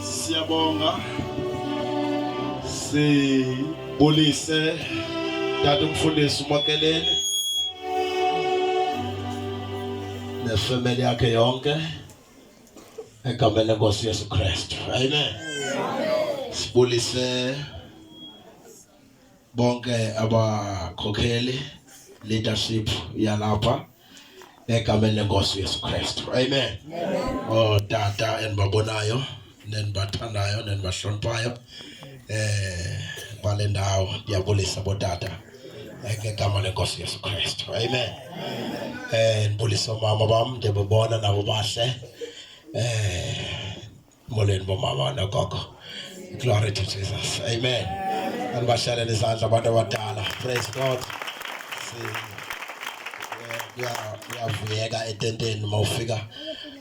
Siyabonga. Sibulise tata umfundisi uMakeleni nefemeli yakhe yonke egameni lenkosi Yesu Kristu. Amen. Sibulise bonke abakhokheli leadership yalapha egameni lenkosi uyesu kristu amen ootata oh, endibabonayo nendibathandayo nendibahloniphayo eh bale ndawo ndiyabulisa botata ngegama lenkosi yesu kristu amen um ndibulisa oomama bam ndibabona nabo bahle um molweni bomama nogogo glory to jesus amen andibashalela izandla abantu abadala praise god uyavuyeka etenteni uma ufika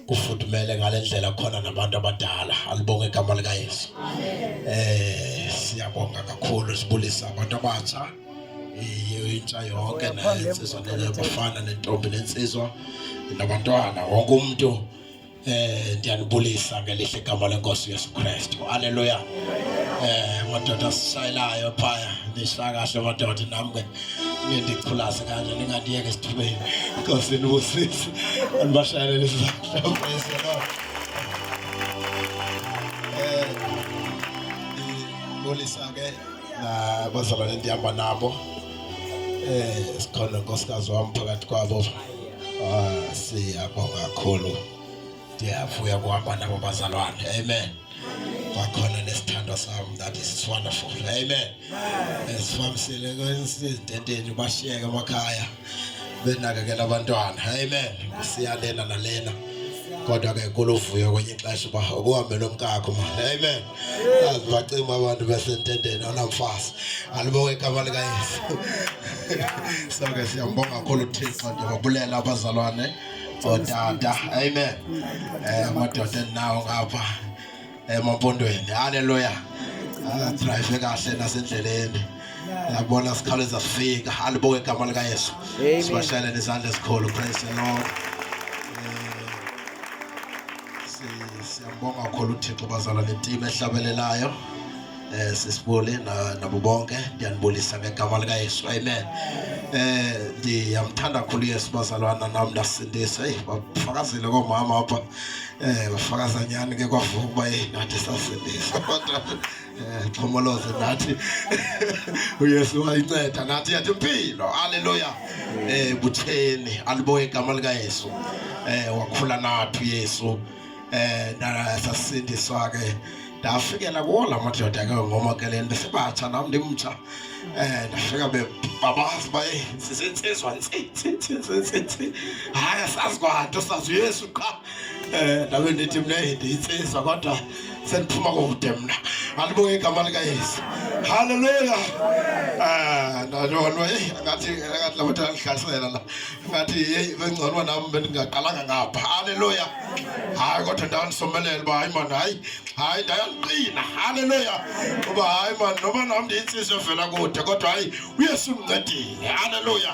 kufudumele ngale ndlela khona nabantu abadala alibonge igama likayesu um siyabonga kakhulu sibulisa abantu abatsha intsha yonke nensizwa nabafana nentombi nensizwa nabantwana wonke umntu Eh ndiyanibulisa ngelihle igama lenkosi Yesu Kristu. Haleluya. Eh madoda sisayelayo phaya ndishaya kahle madoda nam ke nindichulaze kanje ningandiyeke esithubeni. Nkosi nibusise. Andibashayelele isizathu. Praise the Lord. Eh ndibulisa ke nabazalwane ndihamba nabo. Eh sikhona nkosikazi wam phakathi kwabo. Ah, siyabonga kakhulu. Ndiyavuya kuhamba nabo bazalwane. Amen. Kwakhona nesithandwa sam that is wonderful. Amen. Esifambisile kwensidenteni bashiyeke emakhaya benakekela abantwana. Amen. Siyalena nalena. Kodwa ke kuluvuyo kwenye ixesha uba ukuhambela umkakho. Amen. azibacima abantu besentendeni anamfazi alibonge igama likayesu so ke siyambonga kakhulu uthixo ndibabulela abazalwane ootata amen um amadoda endinawo ngapha emampondweni halleluya adrayive kahle nasendleleni yabona sikhawuleza sifika alibonge igama likayesu sibashayelele izandla ezikhulu praise the lord Siyambonga kakhulu uThixo bazala netim ehlabelelayo eh sisibuli nabo bonke ndiyanibulisa ngegama lika Yesu amen eh ndiyamthanda kakhulu Yesu bazalwana nam ndasindisa hey bafakazile koomama apha eh bafakaza nyani ke kwavuka uba hey nathi sasindisa Eh, pomoloze nathi uyesu wayinceda nathi yathi impilo aleluya eh butheni aliboye igama likayesu eh wakhula nathi uyesu eh sasindiswa ke ndafikela kuwo la madoda ke ngoma ke le nto sibatsha nam ndimtsha um ndafika bebabazi uba sisentsizwa ntsi ntsi ntsi ntsi ntsi hayi asazi kwanto sazi uyesu qha Eh, nawe ndithi mna ndiyintsizwa kodwa sendiphuma kude mna alibuke igama likayesu halleluya eh, ndandonwa eyi angathi angathi labo ndandihlasela la ngathi yeyi bengcono nam bendingaqalanga ngapha halleluya hayi kodwa ndandisomelela uba hayi mani hayi hayi ndayaliqina halleluya uba hayi mani noba nam ndiyintsizwa evela kude kodwa hayi Yesu incedile. Haleluya.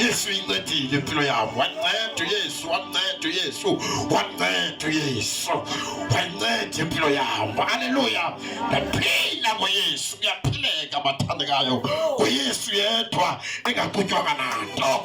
Yesu incedile impilo yabo. Wanceda uYesu, wanceda uYesu, wanceda uYesu. Wanceda impilo yabo. Haleluya. Ndaphila ngoYesu. Kuyaphileka bathandekayo. UYesu yedwa engaqutywanga nanto.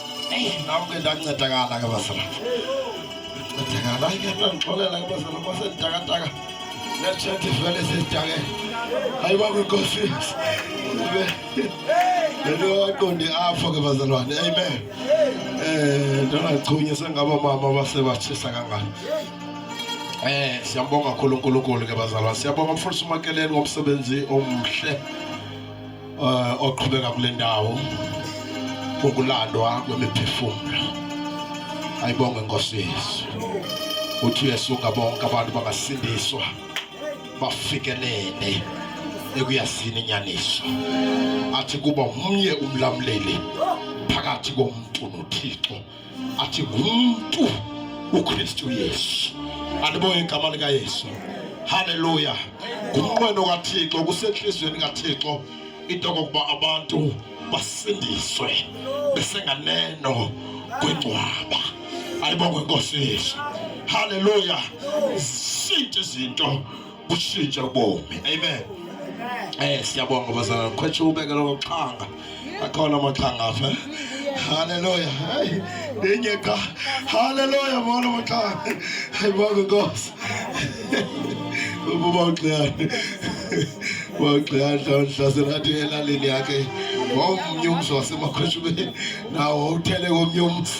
ndingawakuqondi apho ke bazalwane amen um ndingachunywe sengaba mama basebatshisa kangani Eh siyambonga kakhulu uNkulunkulu ke bazalwa. Siyabonga mfundisi uMakeleni ngomsebenzi omhle. uh, oqhubeka kule ndawo ukulandwa kwemiphefumlo ayibonge inkosi yesu uthi uyesuka bonke abantu bangasindiswa bafikelele ekuyazini inyaniso athi kuba mnye umlamleli phakathi komntu nothixo ati mtu ukristu yesu andiboye igama likayesu halleluya ngumnqweno kathixo kusentliziyweni kathixo into kokuba abantu basindiswe besenganeno kwingcwaba ayibongwe inkosi yesu halleluya zinto izinto kutshintshe ubomi amen Eh siyabonga bazalwane khwetshe ubeke lo xhanga akhona amaxhanga apha haleluya hayi ndinye qha haleluya mona amaxhanga hayi bonke nkosi ububa uxiyane wagxiyana mhlawumbe athi elalini yakhe wawomnye umzi wasemakhweshubeni nawo uthele komnye umzi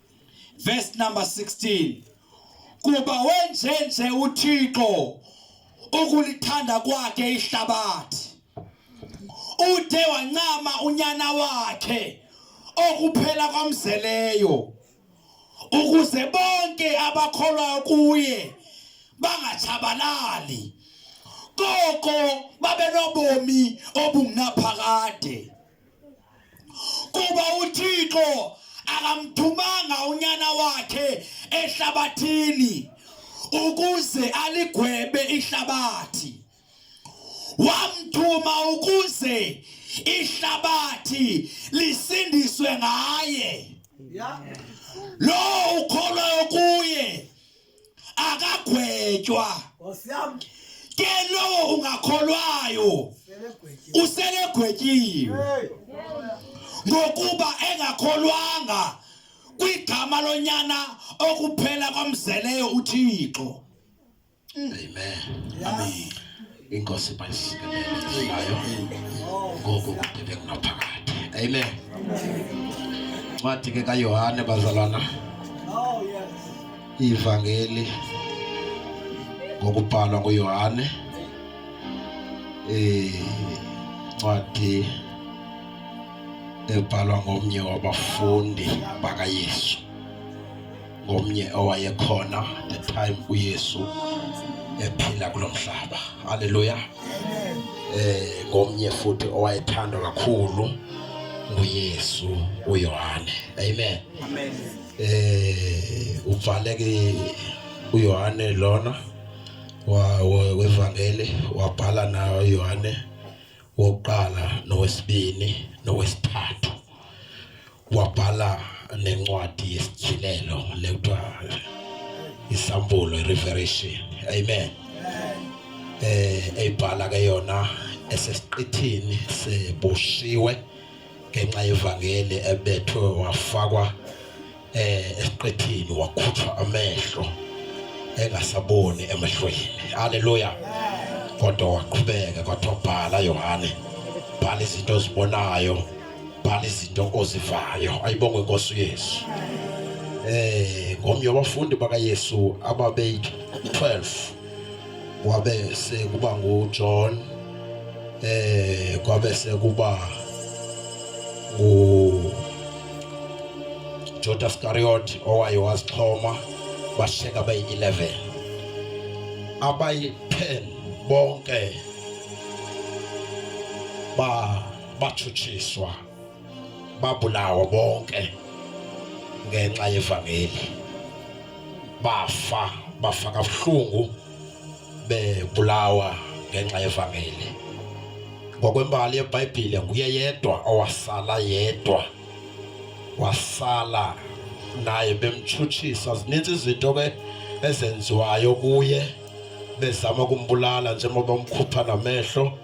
Verse number 16. Kuba wenjenje uThixo ukulithanda kwakhe ihlabathi. Ude wancama unyana wakhe okuphela kwamzeleyo ukuze bonke abakholwayo kuye bangatshabalali koko babenobomi obungunaphakade kuba uthixo akamthumanga unyana wakhe ehlabathini ukuze aligwebe ihlabathi wamthuma ukuze ihlabathi lisindiswe ngaye yeah. lo ukholwayo kuye akagwetywa ke lowo ungakholwayo uselegwetyiwe ngokuba engakholwanga kwigama lonyana okuphela kwamzeleyo uthixo amen amen Inkosi bayisikelelayo ngoku kude bekunaphakade. Amen. Ncwadi ke kaYohane bazalwana. Oh, Ivangeli ngokubhalwa nguYohane. Eh ncwadi ebhalwa ngomnye wabafundi bakaYesu. ngomnye owayekhona the time uYesu ephila kulo mhlaba haleluya eh ngomnye futhi owayethandwa kakhulu nguYesu uYohane amen amen eh uvaleke uYohane lona wa wevangeli wabhala nayo uYohane wokuqala nowesibini nowesithathu wabhala nencwadi yesityhilelo le kuthiwa isambulo ireveration amen eh eyibhala ke yona esesiqithini seboshiwe ngenxa yevangeli ebethwe wafakwa eh esiqethini wakhutshwa amehlo engasaboni emehlweni haleluya kodwa waqhubeka kwathiwa bhala yohane bhala izinto ozibonayo bhala izinto ozivayo ayibongwe inkosi uyesu eh ngomnye wabafundi bakayesu ababeyi-12 kwabe sekuba nguJohn eh kwabe sekuba ngu Judas Iscariot owaye wasixhoma basheka bayi-11 abayi-10 bonke ba batshutshiswa babulawa bonke ngenxa yevangeli bafa bafa kabuhlungu bebulawa ngenxa yevangeli ngokwembali yebhayibhile nguye yedwa owasala yedwa wasala naye bemtshutshisa zininzi izinto ke ezenziwayo kuye bezama ukumbulala njengoba umkhupha namehlo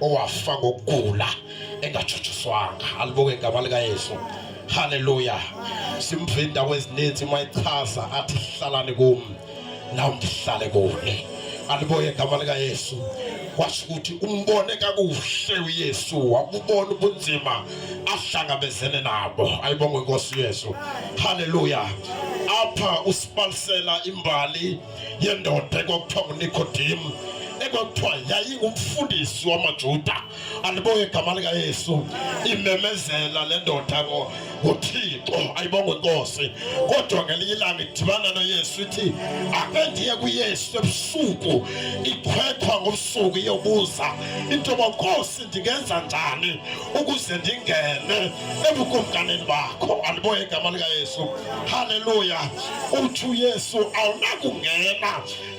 owafa ngokugula engatshutshiswanga alibuke igama likayesu haleluya simva iindawo ezininzi mayichaza athi hlalani kum nam ndihlale kuni alibuke igama likayesu kwasho ukuthi umbone kakuhle uyesu wabubona ubunzima ahlangabezene nabo ayibongwe inkosi yesu haleluya apha usibalisela imbali yendoda ekwakuthiwa nguNicodim ekwakuthiwa yayingumfundisi wamaJuda aliboye igama likaYesu imemezela le ndoda ngo uthixo ayibonge inkosi kodwa ngelinye ilanga idibana noyesu ithi ake ndiye kuyesu ebusuku ikhwethwa ngobusuku iyobuza into yoba nkosi ndingenza njani ukuze ndingene ebukumkanini bakho andiboye igama likayesu halleluya uthi uyesu awunakungena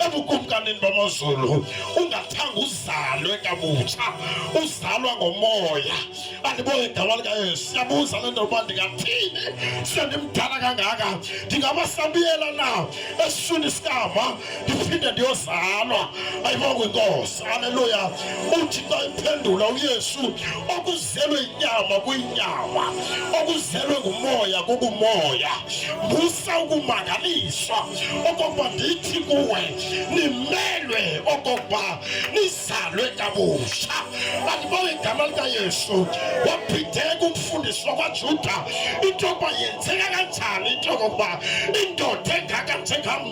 ebukumkanini bamazulu ungathanga uzalwe kabutsha uzalwa ngomoya andiboye igama likayesu siyabuza le nto uba ndingathini sendimdala kangaka ndingabasabiyela na esiswini sikama ndiphinde ndiyozalwa ayibo kwinkosi aleluya uthi xa iphendula uyesu okuzelwe inyama kwinyama okuzelwe ngumoya kukumoya musa ukumangaliswa okokuba ndithi kuwe nimelwe okokuba nizalwe kabusha andibo igama likayesu waphindeka umfundiswa kwajuda into yokuba yenzeka kanjani into yokokuba indoda engaka njengam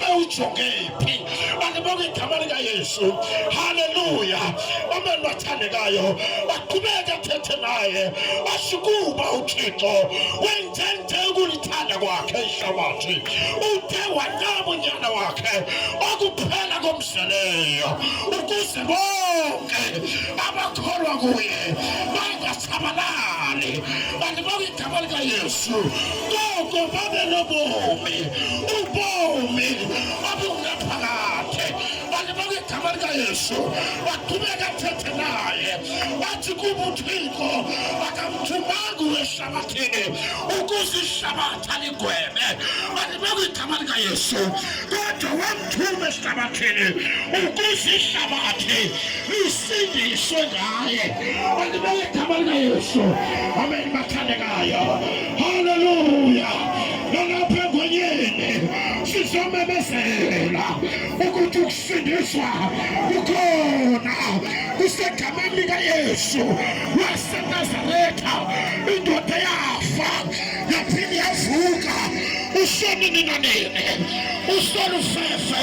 bewujonge phi bandibonga igama likayesu haleluya omeni bathandekayo baqhubeke athethe naye basho kuba uthixo wenze nje ukulithanda kwakhe ihlabathi uthe wanyama unyana wakhe okuphela komzeleyo ukuze bonke abakholwa kuye tabalale bantu bakwiigama likayesu koko babe nobomi ubomi obungaphakade bantu bakwiigama likayesu baqhubeka athethe naye bathi kubuthixo bakamthumanga uweshabathini ukuze ishabatha ligwebe bantu bakwiigama likayesu kodwa wamthuma eshabathini ukuze ishabathi isindiswe ngaye andibele gama likayesu amen bathandekayo haleluya nalapha engonyeni sizomemezela ukuthi ukusindiswa kukhona kusegameni likayesu wasenazaretha indoda yafa yaphinde yavuka usoni nina nini usolufefe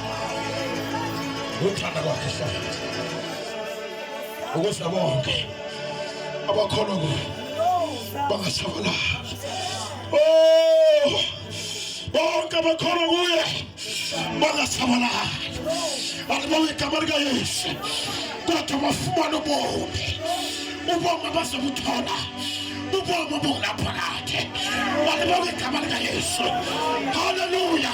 uthanda kwakhe safathi ukuze bonke abakholwa kuyo bangasabalala oh, bonke abakholwa kuye bangasabalala alibawe igama likayesu kodwa bafumane ubomi ubomi abazobuthola ubomi obungunaphakade alibawe igama likayesu haleluya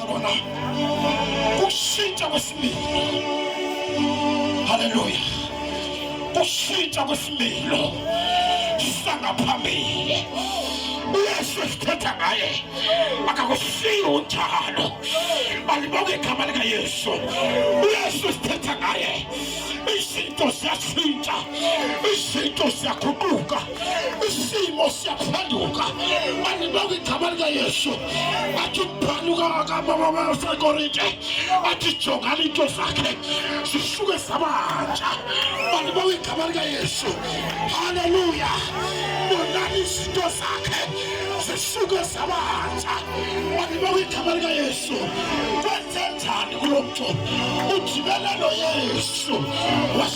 Bwana, kushinja kwesimilo. Haleluya, kushinja kwesimilo sangaphambili uyesu esithetha ngaye akakushiyi unjalo balibonga igama likayesu uyesu esithetha ngaye izinto ziyatshintsha izinto ziyaguquka isimo siyaphenduka andibanga igama likayesu athi uphanuka kabababasekorinte athi jongani into zakhe zisuke zabantsha andibanga igama likayesu haleluya bonani izinto zakhe zisuke zabantsha andibanga igama likayesu kwenzenjani kulo mntu ujibelela noyesu was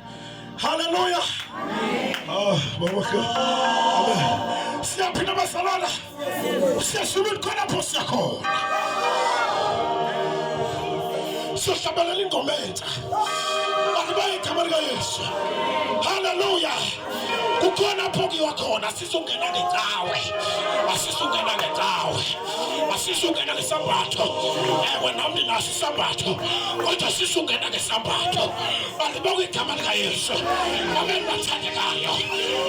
Haleluya. Ah, baba. Siyaphinda bazalwana. Siyashuba khona pho siyakhona. Siyohlabelela ingoma entsha. Akubeke igama likaYesu. Haleluya. Kukhona pho kuyiwa khona. Asisukena ngecawe, asisukena ngecawe, asisukena ngesambatho. Ewe, nam ndinaso isambatho, kodwa asisukena ngesambatho. Balibonga igama likaYesu, amen, bathandekayo.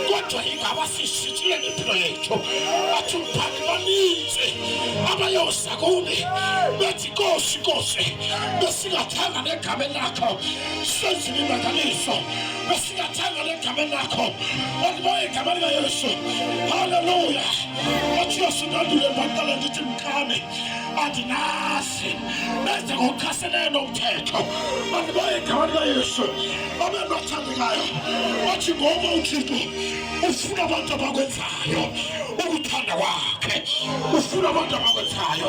Kodwa ingaba sishitshile impilo yethu, bathi umphathi baninzi abayoza kuni bethi kosi kosi besingathanga negameni lakho senzile imangaliso Usingathanga negama lakho okuboye igama likayesu haleluya otshiyosi ndandule baqala ndithi mkami andinazi benze ngokuchaselene nomthetho andiboye igama likayesu abe nothandekayo wathi ngoba uthixo ufuna abantu abakwenzayo ukuthanda kwakhe ufuna abantu abakwenzayo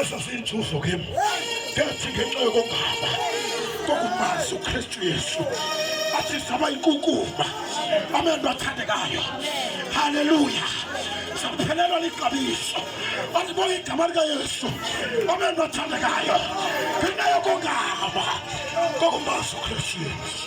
eso siyinzuzo kim ndathi ngenxa yokongaba kokumazi ukristu yesu athi saba inkunkuma abantu bathandekayo haleluya saphelelwa lixabiso andibona igama likayesu abantu bathandekayo ngenxa yokongaba kokumazi ukristu yesu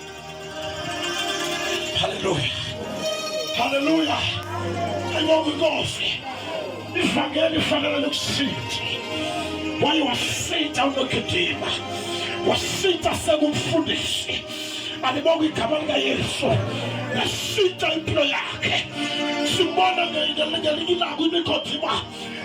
Haleluya, haleluya, ayibobikofi ivangeli ifanele lokusinda waye wasinda unokidima wasinda sekumfundisi alibonga igama likayesu yasinda impilo yakhe sibona ngelinye ilanga imigodima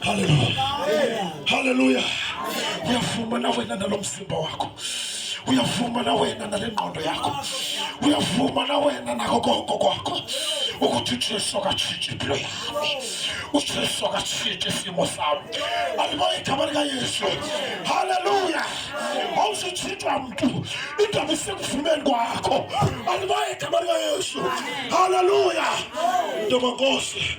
Haleluya, haleluya. Uyavuma na wena nalo mzimba wakho, uyavuma na wena nale ngqondo yakho, uyavuma na wena nako koko kwakho ukuthi uJesu akatshintshe impilo yami, uJesu akatshintshe isimo sami. Alibona igama likaYesu. Haleluya, awuzutshintshwa mntu, indaba isekuvumeni kwakho. Alibona igama likaYesu. Haleluya, ntoba Nkosi.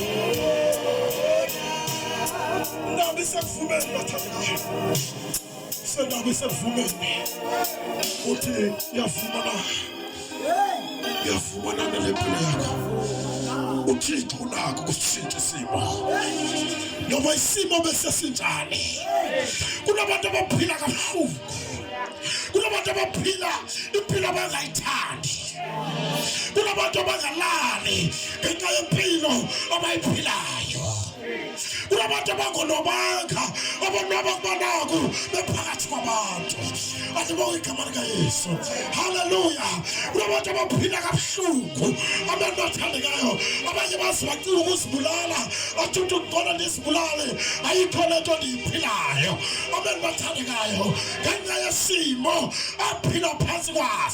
Nabi sekuvumeni bathandile. Senabi sekuvumeni. Uthi yafumana. Yafumana nempilo yakho. uthixo unako kusitshintsha isimo noba isimo besesinjani kunabantu abaphila kabuhlungu kunabantu abaphila impilo abangayithandi kunabantu abangalali ngenxa yempilo abayiphilayo kunabantu abangonwabanga abonwaba kuba naku bephakathi kwabantu andibonga igama likayesu halleluya kunabantu abaphila kabuhlungu abantu bathandekayo abanye bazi bacinga ukuzibulala athi umntu ndibona ndizibulale ayikho le nto ndiyiphilayo abantu bathandekayo ngenxa yesimo aphila phantsi kwaso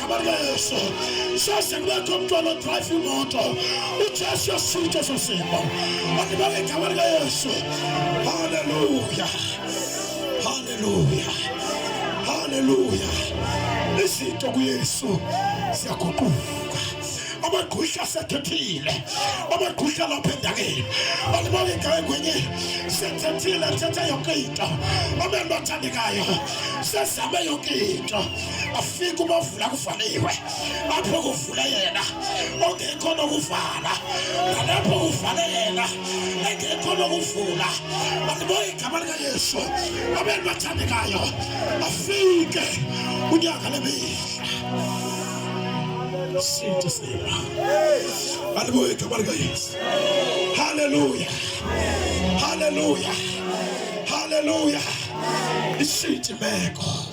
Yesu. Sasa ngwako mtu anodrive moto uchasha sita za simba anibawe kamarga Yesu. Haleluya, haleluya, haleluya. Nisito ku Yesu siyakukuka abakhusha sethethile abakhusha lapha endakeni balibale ngayo kwenye sethethile thetha yonke into abentu athandekayo sesame yonke into fika ubovula kuvaliwe apho kuvule yena ongekho nokuvala nalapho kuvale yena engekho nokuvula mandiboye igama likayesu abeni bathandekayo afike unyaka lemihla sinto sema mandiboye igama likayesu haleluya haleluya haleluya ishintshe imeko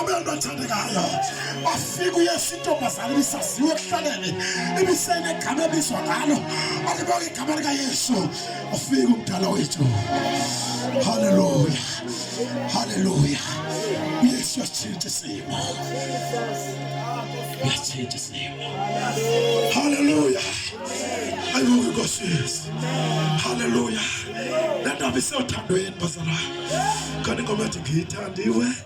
Abantu athandekayo bafika uyesu intombazana ibisaziwe ekuhlaleni ibisenegama ebizwa ngalo alibonga igama likayesu ufika umdala wethu haleluya haleluya uyesu uyatshintsha isimo uyatshintsha isimo haleluya ayibuke inkosi yethu haleluya le ndaba isewuthandweni bazalwane kanti ingoma ethi ngiyithandiwe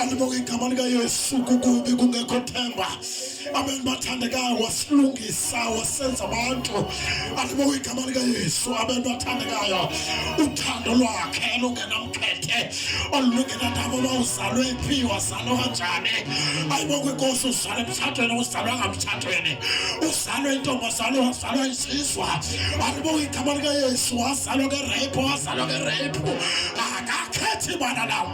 andibonge igama likayesu kukubi kungekho themba amen bathandekayo wasilungisa wasenza abantu andibonge igama likayesu amen bathandekayo uthando lwakhe lungenamkhethe olulungenandaba uba uzalwe phi wazalwa kanjani ayibonke inkosi uzalwe emtshatweni uzalwanga mtshatweni uzalwe intombazalwe wazalwa isizwa andibonge igama likayesu wazalwa ngereyiphu wazalwa ngereyiphu akakhethi bana lawo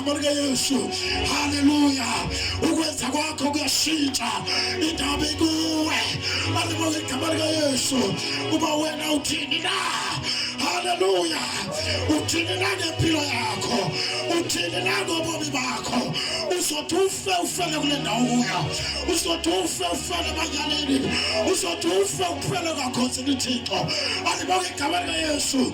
Murga Yesu, haleluya! Ukweza kwakho kuyashintsha, indaba ikuwe. Aliboleka murga Yesu, uba wena uthini na? Haleluya! Uthini na ngempilo yakho? Uthini na ngobomi bakho? uzothi ufe ufele kule ndawo uya uzothi ufe ufele emanyaneni uzothi ufe uphele kakhosini thixo alibonge igama likayesu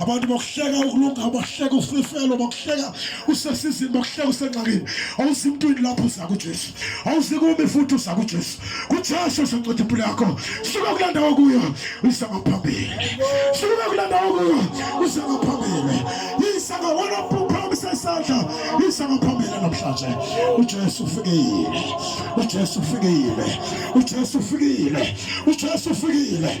Abantu bakuhleka ukulunga, bakuhleka usifelo, bakuhleka usesizini, bakuhleka usengxakini. Awuzi mntwini lapho uza kuJesu. Awuzi kumi futhi uza kuJesu. KuJesu uzonceda impilo yakho. Suka kule ndawo kuyo, uza ngaphambili. Suka kule ndawo kuyo, uza ngaphambili. Yisa ngawona phamisa isandla, yisa ngaphambili namhlanje. UJesu ufikile. UJesu ufikile. UJesu ufikile. UJesu ufikile.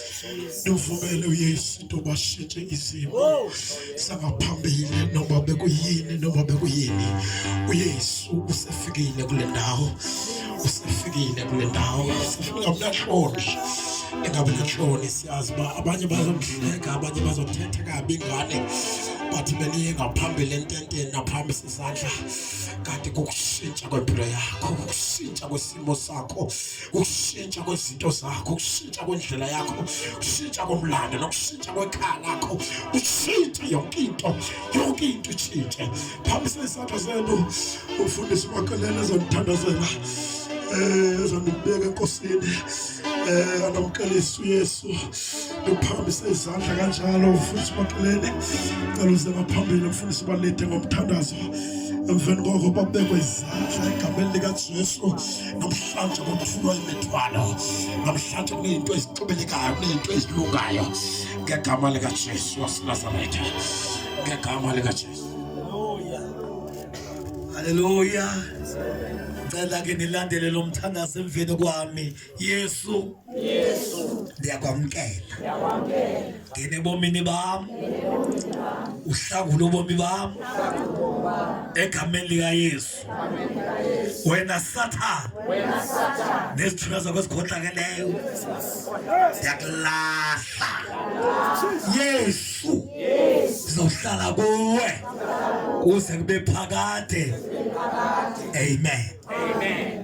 Ndivumele uYesu into bashintshe izimo oh. sangaphambili noba bekuyini noba bekuyini uYesu usefikile kule ndawo usefikile kule ndawo ungamnahloni engabe nahloni siyazi uba abanye bazomhleka abanye bazothetha kabi ngane but beniye ngaphambili ententeni naphambi sisandla kanti kukushintsha kwempilo yakho kukushintsha kwesimo sakho ukushintsha kwezinto zakho, ukushintsha kwendlela yakho, ukushintsha komlando nokushintsha kwekhaya lakho, utshintshe yonke into, yonke into itshintshe. Phambisa izandla zenu, ufundisi uMakelele ezonithandazela, eh, ezonibeka enkosini, eh, anamkelisa uYesu. Uphambise izandla kanjalo, ufundisi uMakelele, cela uze ngaphambili, ufundisi ubalide ngomthandazo. Emveni koko babekwe izandla egameni likaJesu. namhlanje kufunwa imithwalo namhlanje kunezinto ezixubelekayo kunezinto ezilungayo ngegama likajesu wasenazaretha ngegama likajesu haleluya ngicela ke nilandele lo mthandazo emveni kwami yesu Yesu ndiyakwamkela ngene bomini bam uhlangule ubomi bam egameni likayesu wena sathane nezithunywa zakho ezikhohlakeleyo ndiyakulahla yesu ndizohlala kuwe kuze kube phakade amen, amen.